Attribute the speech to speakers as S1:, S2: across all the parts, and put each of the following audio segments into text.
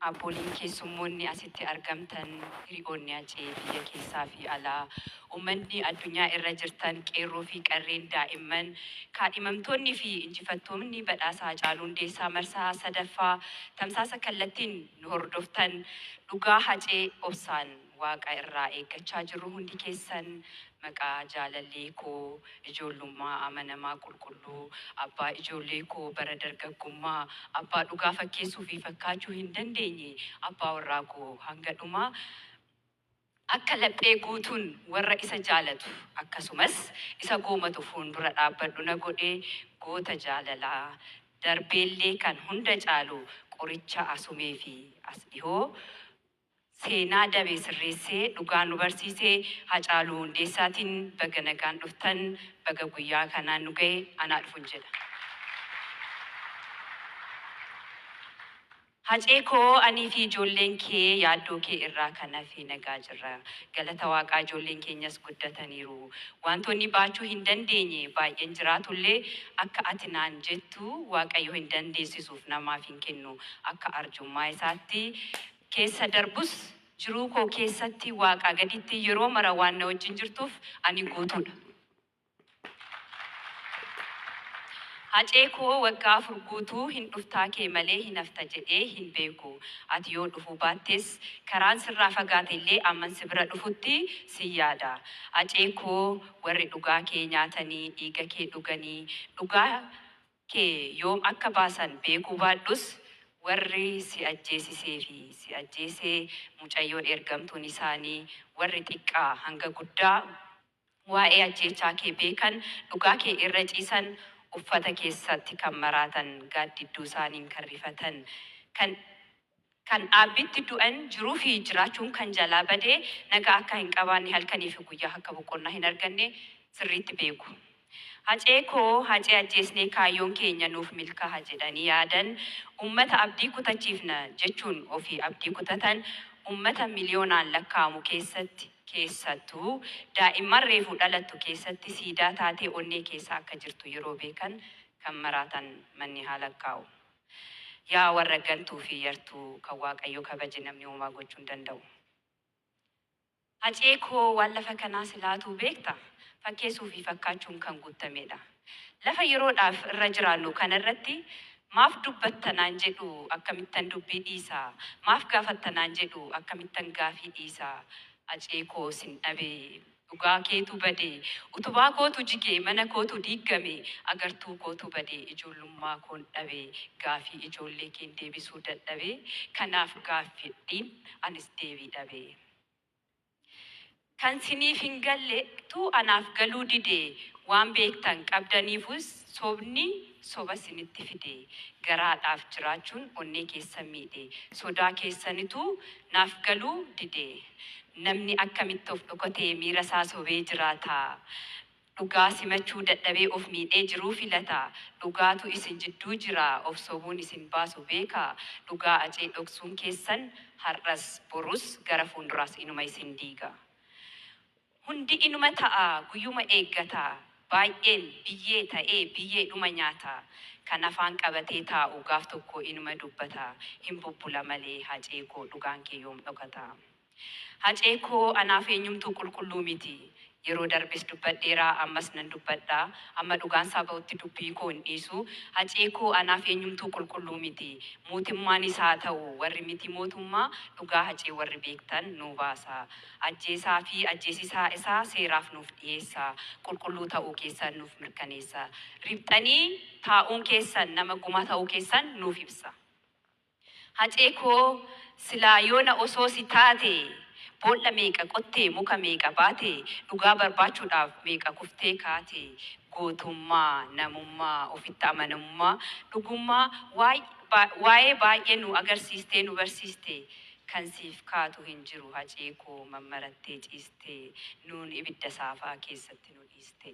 S1: Abboliin keessummoonni asitti argamtan, hiri'oonni Hacee biyya keessaa fi alaa, ummanni addunyaa irra jirtan, qeerroo fi qarreen, daa'imman, kaadhimamtoonni fi injifattoonni badhaasa Hacaaluu Hundeessaa marsaa 3ffaa tamsaasa kallattiin nu hordoftan, dhugaa Hacee obsaan. Waaqa irraa eeggachaa jirru hundi keessan maqaa jaalallee koo ijoollummaa amanamaa qulqulluu, abbaa ijoollee koo bara dargaggummaa, abbaa dhugaa fakkeessuu fi fakkaachuu hin dandeenye, abbaa warraa koo hanga dhumaa akka laphee guutuun warra isa jaalatu akkasumas isa goomatu fuundura dhaabbadhu na godhe goota jaalalaa darbeellee kan hunda caalu qoricha asumee fi as dhihoo Seenaa dabe sirreessee dhugaa nu barsiise Hacaaluu Hundeessaatiin baga nagaan dhuftan baga guyyaa kanaan nu gahe anaa dhufun jedha. Hacee koo anii fi ijoolleen kee yaaddoo kee irraa kan hafe nagaa jirra. Galata Waaqaa ijoolleen keenyas guddataniiru. Waantoonni baachuu hin dandeenye baay'een jiraatullee akka ati naan jettu Waaqayyo hin dandeessisu. namaaf hin kennu. Akka arjummaa isaatti keessa darbus, jiruu koo keessatti Waaqaa gaditti yeroo mara waan na wajjin jirtuuf ani guutuu dha. Hacee koo waggaa afur guutuu hin dhuftaa kee malee hin hafta jedhee hin beeku. Ati yoo dhufuu baattes karaan sirraa fagaate illee amman si bira dhufutti sin yaada. Hacee koo warri dhugaa kee nyaatanii, dhiiga kee dhuganii, dhugaa kee yoom akka baasan beekuu baadhus warri si ajjeesisee fi si ajjeese mucayyoon ergamtuun isaanii warri xiqqaa hanga guddaa waa'ee ajjeechaa kee beekan dhugaa kee irra ciisan uffata keessatti kan maraatan gaaddidduu isaaniin kan rifatan kan Kan dhaabbiitti du'an jiruu fi jiraachuun kan jalaa bade nagaa akka hin qabaanne halkanii fi guyyaa akka boqonnaa hin arganne sirriitti beeku. Hacee koo Hacee ajjeesnee kaayyoon keenya nuuf milkaaha jedhanii yaadan uummata abdii kutachiifna jechuun ofii abdii kutatan uummata miliyoonaan lakkaa'amu keessatti keessattuu daa'imman reefu dhalattu keessatti siidaa taatee onnee keessa akka jirtu yeroo beekan kan maraatan manni haa lakkaa'u. Yaa warra gantuu fi yartuu kan waaqayyo kabaje namni homaa gochuu hin danda'u. Hacee koo waan lafa kanaa silaatuu beekta? Fakkeessuu fi fakkaachuun kan guuttameedha. Lafa yeroodhaaf irra jiraannu kana irratti maaf dubbatta naan jedhu akkamittan dubbii dhiisa? Maaf gaafatta naan jedhu akkamittan gaafii dhiisa? Hacee koo sin dhabee. Dhugaa keetu bade utubaa kootu jige mana kootu diiggame agartuu kootu bade ijoollummaa koon dhabe gaafii ijoollee keen deebisuu dadhabe kanaaf gaaffidhiin anis deebii dhabe kan siniif hin galle tu anaaf galuu dide waan beektan qabdaniifus Sobni soba sinitti fide. Garaadhaaf jiraachuun onnee keessan miidhe. Sodaa keessanitu naaf galuu dide. Namni akkamitti of dhokatee miira isaa sobee jiraata? Dhugaa simachuu dadhabee of miidhee jiruu filata. Dhugaatu isin jidduu jira, of sobuun isin baasu beeka. Dhugaa Acee dhoksuun keessan har'as, borus, gara fuunduraas inuma isin diiga. Hundi inuma ta'a guyyuma eeggata Baay'een biyyee ta'ee biyyeedhuma nyaata Kan afaan qabatee taa'u gaaf tokko inuma dubbata Hin bubbula malee Hacee koo dhugaan kee yoom dhokata Hacee koo anaaf eenyumtuu qulqulluu miti Yeroo darbes dubbadheera ammas nan dubbadha Amma dhugaan isaa ba'utti dubbii koo hin dhiisu Hacee koo anaaf eenyumtuu qulqulluu miti Mootimmaanis haa ta'u warri miti mootummaa Dhugaa Hacee warri beektan nuu baasaa Ajjeesaa fi ajjeesisaa isaa seeraaf nuuf dhiyeessaa. Qulqulluu ta'uu keessan nuuf mirkaneessa. Riphxanii taa'uun keessan nama gumaa ta'uu keessan nuuf ibsa. Hacee koo silaa yoona osoo si taate boolla meeqa qotte muka meeqa baate dhugaa barbaachuudhaaf meeqa kuftee kaate gootummaa, namummaa, ofitti amanamummaa, dhugummaa waa'ee baay'ee nu agarsiistee nu barsiiste. Kan siif kaatu hin jiru hacee koo mammarattee ciiste nuun ibidda saafaa keessatti nu dhiiste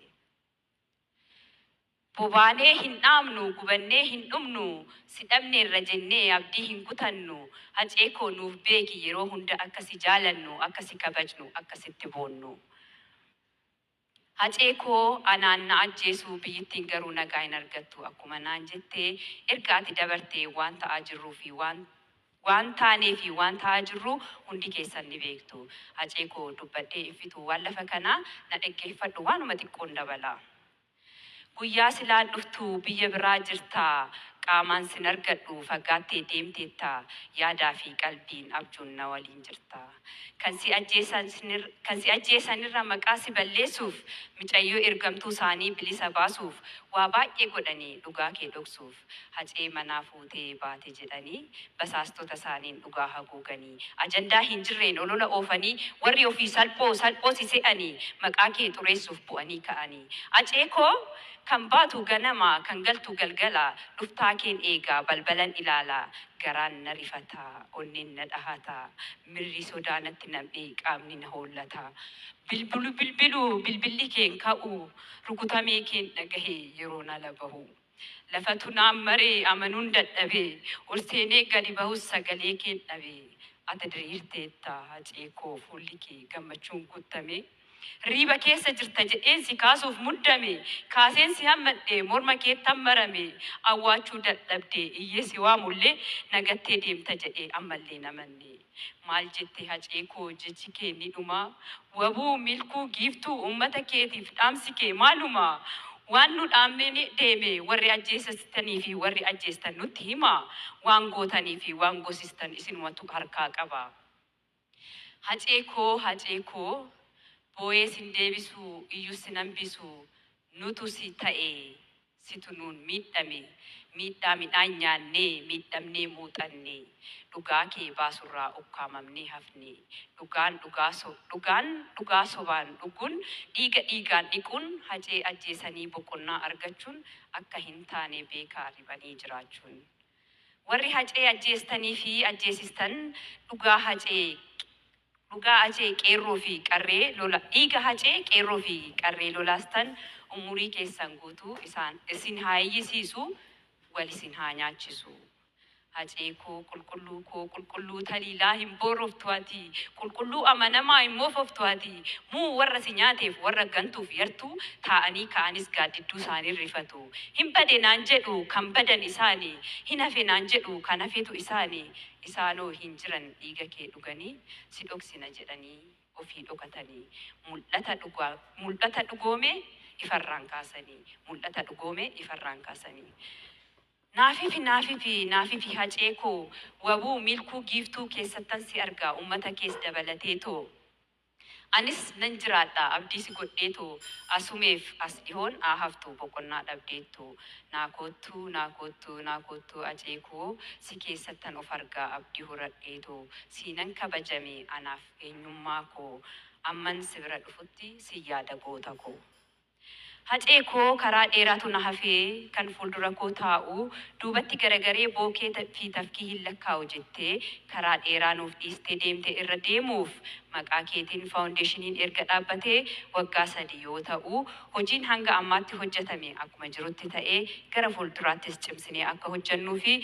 S1: Bobaanee hin dhaamnu gubannee hin dhumnu si dhabneerra jennee abdii hin kutannu Hacee koo nuuf beeki yeroo hunda akka si jaalannu akka si kabajnu akka sitti boonnu. Hacee koo anaan na ajjeesuu biyyittiin garuu nagaa hin argattu akkuma naan jette erga ati dabarte waan ta'aa jirruu fi waan waan taanee fi waan ta'aa jirru hundi keessan ni beektu hacee koo dubbadhee hin fixu waan lafa kanaa na dhaggeeffadhu waanuma xiqqoon dabalaa Guyyaa silaa dhuftu biyya biraa jirta Qaamaan sin argadhu fagaattee deemteetta Yaadaa fi qalbiin abjuun na waliin jirta Kan si ajjeesan Kan si ajjeesan irra maqaa si balleessuuf Micayyoo ergamtuu saanii bilisa baasuuf Waa baay'ee godhanii dhugaa kee dhoksuuf. Hacee manaa fuutee baate jedhanii basaastota isaaniin dhugaa haguuganii, ajandaa hin jirreen olola oofanii, warri ofii salphoo salphoo si se'anii, maqaa kee xureessuuf bu'anii ka'anii. Acee koo Kan baatu ganama, kan galtu galgala, dhuftaa keen eegaa, balbalan ilaala. Garaan na rifata, onneen na dhahata, mirri sodaa natti nam'ee qaamni na hoollata. Bilbilu bilbilu bilbilli kee hin ka'u, rukutamee keen dhagahe yeroon ala bahu. Lafatu naan mare amanuun dadhabe Ol seenee gadi bahus sagalee keen dhabe Ata diriirteetta Hacee koo fuulli kee gammachuun guuttame Hirriiba keessa jirta jedheen si kaasuuf muddame Kaaseen si hammadhe morma keettan marame Awwaachuu dadhabde iyyee si waamullee Na gattee deemta jedhee ammallee hin amanne Maal jette hacee koo jechi kee ni dhuma Wbo milkuu giiftuu ummata keetiif dhaamsi kee maaluma Waan nu dhaammee ni deeme warri ajjeesasitanii fi warri ajjeestan nutti hima Waan gootanii fi waan gosistan isinumatu harkaa qaba Hacee koo hacee koo Booyee sin deebisu iyyus sin hambisu Nutu si ta'e Situ nuun miidhame miidhaa midhaan nyaannee miidhamnee muuxanne Dhugaa kee baasurraa ukkaamamnee hafne Dhugaan dhugaa so dhugaan dhugaa sobaan dhuguun dhiiga dhiigaan dhiquun Hacee ajjeesanii boqonnaa argachuun akka hin taane beekaa riphanii jiraachuun Warri Hacee ajjeestanii fi ajjeesistan dhugaa Hacee Dhugaa Hacee Qeerroo fi Qarree Lola Dhiiga Hacee Qeerroo fi Qarree Lolaastan Ummurii Keessan Guutuu Isaan Isin Haa Iyyisiisu Wal Isin Haa Nyaachisu Hacee Koo Qulqulluu Koo Qulqulluu Taliilaa Hin Booroftu Ati Qulqulluu Amanamaa Hin Moofoftu Ati Muu Warra Si Nyaateef Warra Gantuuf Yartuu Taa'anii Ka'anis Gaaddidduu Isaaniin Rifatu Hin Bade Naan Jedhu Kan Badan Isaani Hin Hafe Naan Jedhu Kan Hafetu Isaani Isaanoo hin jiran dhiiga kee dhuganii si dhoksina jedhanii ofii dhokatanii mul'ata dhugaa mul'ata dhugoome ifarraan kaasanii mul'ata dhugoome ifarraan kaasanii Naafifi naafifi naafifi hacee koo wabuu milkuu giiftuu keessattan si argaa ummata kees dabalateetoo Anis nan jiraadha abdii si godheetu Asumeef as dhihoon haa haftu boqonnaa dhabdeettu Naa koottu naa koottu naa koottu Acee koo Si keessattan of arga abdii horadheetu Siinan kabaja mee anaaf eenyummaa koo Amman si bira dhufutti sin yaada goota koo. Hacee koo karaa dheeraatu na hafee kan fuuldura koo taa'u duubatti garagaree bookee fi tafkii hin lakkaa'u jettee karaa dheeraa nuuf dhiistee deemte irra deemuuf maqaa keetiin faawundeeshiniin erga dhaabbatee waggaa sadii yoo ta'u hojiin hanga ammaatti hojjatame akkuma jirutti ta'ee gara fuulduraattis cimsinee akka hojjannuu fi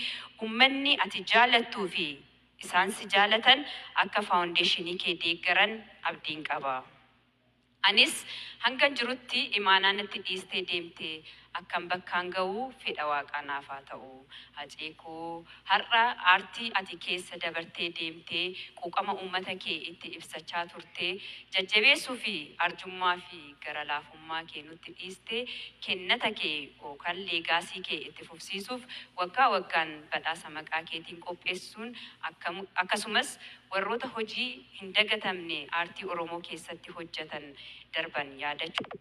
S1: ummanni ati jaalattuu fi isaan si jaalatan akka faawundeeshinii kee deeggaran abdiin qaba. Anis hangan jirutti imaanaa natti dhiistee deemte akkan bakkaan ga'u fedha Waaqaa naaf haa ta'u. Hacee koo har'a aartii ati keessa dabartee deemtee quuqama uummata kee itti ibsachaa turte jajjabeessuu fi arjummaa fi gara laafummaa kee nutti dhiiste kennata kee ookan leegaasii kee itti fufsiisuuf waggaa waggaan badhaasa maqaa keetiin qopheessuun akkasumas Warroota hojii hin dagatamne aartii Oromoo keessatti hojjatan darban yaadachuun.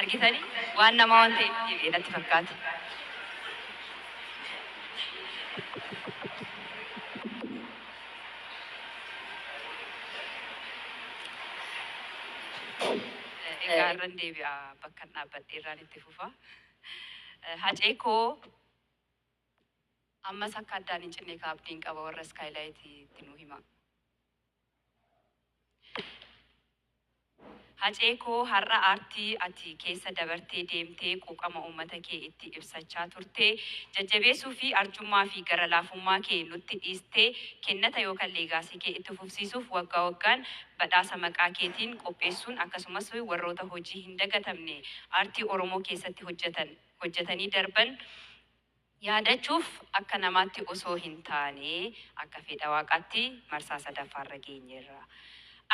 S1: argitanii waan namaa waan ta'e itti deebi'e natti fakkaate. Egaa irran deebi'a bakkan dhaabbadhe irraan itti fufa. Hacee koo ammas akka addaan hin cinne ka abdiin qaba warra iskaayilaayiti itti nu hima. Hacee koo har'a aartii ati keessa dabartee deemtee quuqama uummata kee itti ibsachaa turte jajjabeessuu fi arjummaa fi gara laafummaa kee nutti dhiistee kennata yookan leegaasii kee itti fufsiisuuf waggaa waggaan badhaasa maqaa keetiin qopheessuun akkasumas warroota hojii hin dagatamne aartii Oromoo keessatti hojjetan hojjetanii darban yaadachuuf akka namaatti osoo hin taane akka fedha Waaqaatti marsaa sadaffaarra geenyeerra.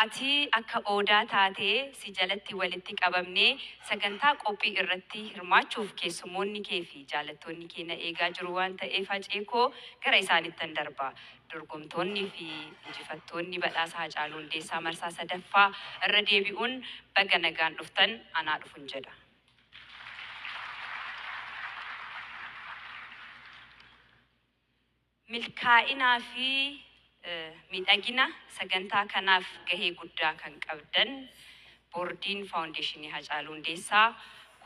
S1: Ati akka Odaa taatee si jalatti walitti qabamnee sagantaa qophii irratti hirmaachuuf keessummoonni kee fi jaalattoonni kee na eegaa jiru waan ta'eef Hacee koo gara isaanittan darba. Dorgomtoonni fi injifattoonni badhaasa Hacaaluu Hundeessaa marsaa sadaffaa irra deebi'uun baga nagaan dhuftan anaa dhufun jedha. Milkaa'inaa fi miidhagina sagantaa kanaaf gahee guddaa kan qabdan Boordiin Faawundeeshinii Hacaaluu Hundeessaa,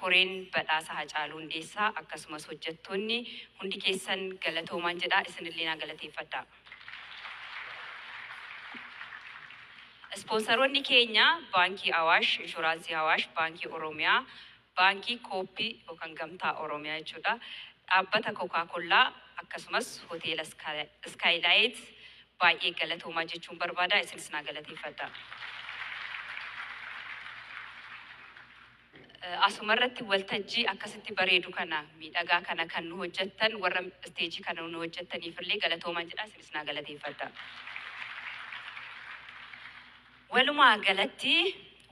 S1: Koreen Badhaasa Hacaaluu Hundeessaa akkasumas hojjettoonni hundi keessan galatoomaa jedha. Isinillee naa galateeffadhaa. Ispoonsaroonni keenya Baankii Awaash, Inshuraansii Awaash, Baankii Oromiyaa, Baankii Kooppi yookan Gamtaa Oromiyaa jechuudha, Dhaabbata Kokaa Kollaa akkasumas Hoteela Iskaayilaayit baay'ee galatoomaa jechuun barbaada isinis naa galateeffadhaa. Asumarratti waltajjii akkasitti bareedu kana, miidhagaa kana kan nu hojjettan warra isteejii kana nu hojjettaniifillee galatoomaan jedha isinis naa galateeffadhaa. Walumaa galatti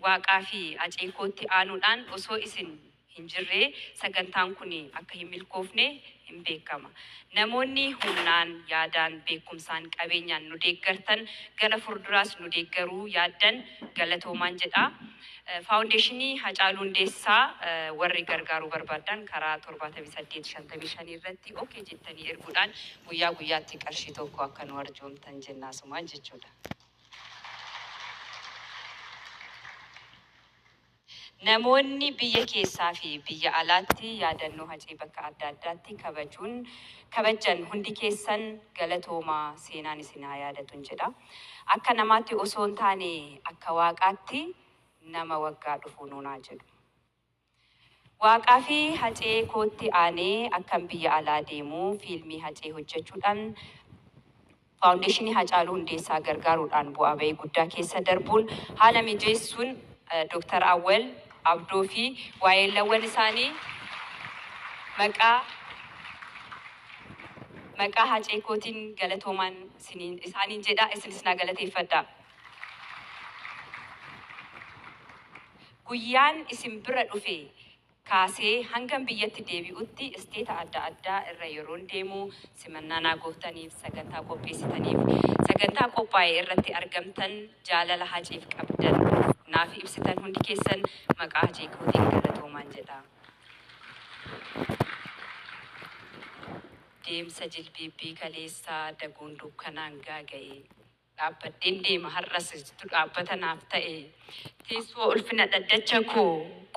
S1: Waaqaa fi Acee kootti aanuudhaan osoo isin hin jirree sagantaan kun akka hin milkoofne hin beekama. Namoonni humnaan, yaadaan, beekumsaan, qabeenyaan nu deeggartan gara furduraas nu deeggaruu yaaddan galatoomaan jedha. Faawundeeshinii Hacaaluu Hundeessaa warri gargaaruu barbaaddan karaa 78 55 irratti ok jettanii erguudhaan guyyaa guyyaatti qarshii 1 akka nu arjoomtan jenna asumaan jechuudha. Namoonni biyya keessaa fi biyya alaatti yaadannoo Hacee bakka adda addaatti kabajuun kabajjan hundi keessan galatoomaa seenaan isin haa yaadatun jedha. Akka namaatti osoo hin taane akka Waaqaatti nama waggaa dhufuu nuun haa jedhu. Waaqaa fi Hacee kootti aanee akkan biyya alaa deemu fiilmii Hacee hojjechuudhaan Faawundeeshinii Hacaaluu Hundeessaa gargaaruudhaan bu'aa ba'ii guddaa keessa darbuun haala mijeessuun Dr. Awwal, Abdoo fi waayeellawwan isaanii maqaa maqaa Hacee kootiin galatoomaan. isiniin isaaniin jedha isinis na galateeffadha. Guyyaan isin bira dhufe kaasee hangan biyyatti deebi'utti isteeta adda addaa irra yeroon deemu simannaa naa gooftaniif, sagantaa qopheessitaniif, sagantaa qophaa'e irratti argamtan, jaalala Haceef qabdan naaf ibsitan hundi keessan maqaa Hacee kootiin galatoomaan jedha. Deemsa jilbiibbii kaleessaa daguun dukkanaan gaaga'e. Dhaabbadheen deema har'as situ dhaabbata naaf ta'e. Teessoo ulfina dhaddacha koo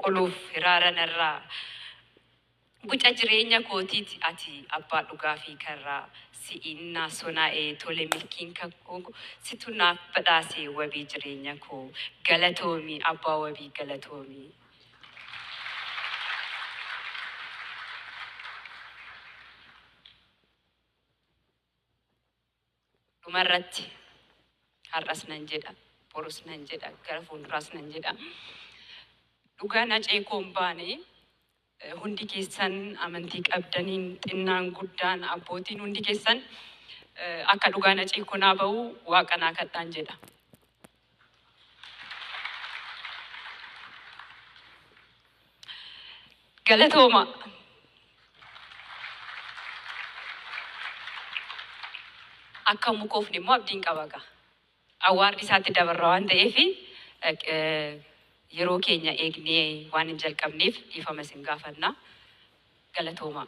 S1: qoluuf hiraara narraa. Guca jireenya kootiiti ati abbaa dhugaa fi karraa. Si'iin naa sonaa'e tole milkiin kakuu koo situ naaf badhaase wabii jireenya koo. Galatoomi abbaa wabii galatoomi. dhuma irratti har'as nan jedha borus nan jedha gara fuulduraas nan jedha dhugaan hacee koo hin baane eh, hundi keessan amantii qabdaniin xinnaan guddaan abbootiin hundi keessan eh, akka dhugaan hacee koo naa ba'u waaqa naa kadhaan jedha Galatoomaa. Akka hin mukoofne immoo abdiin qaba egaa. Awwaardi isaatti dabarra waan ta'eef yeroo keenya eegnee waan hin jalqabneef dhiifama isin gaafanna. Galatoomaa.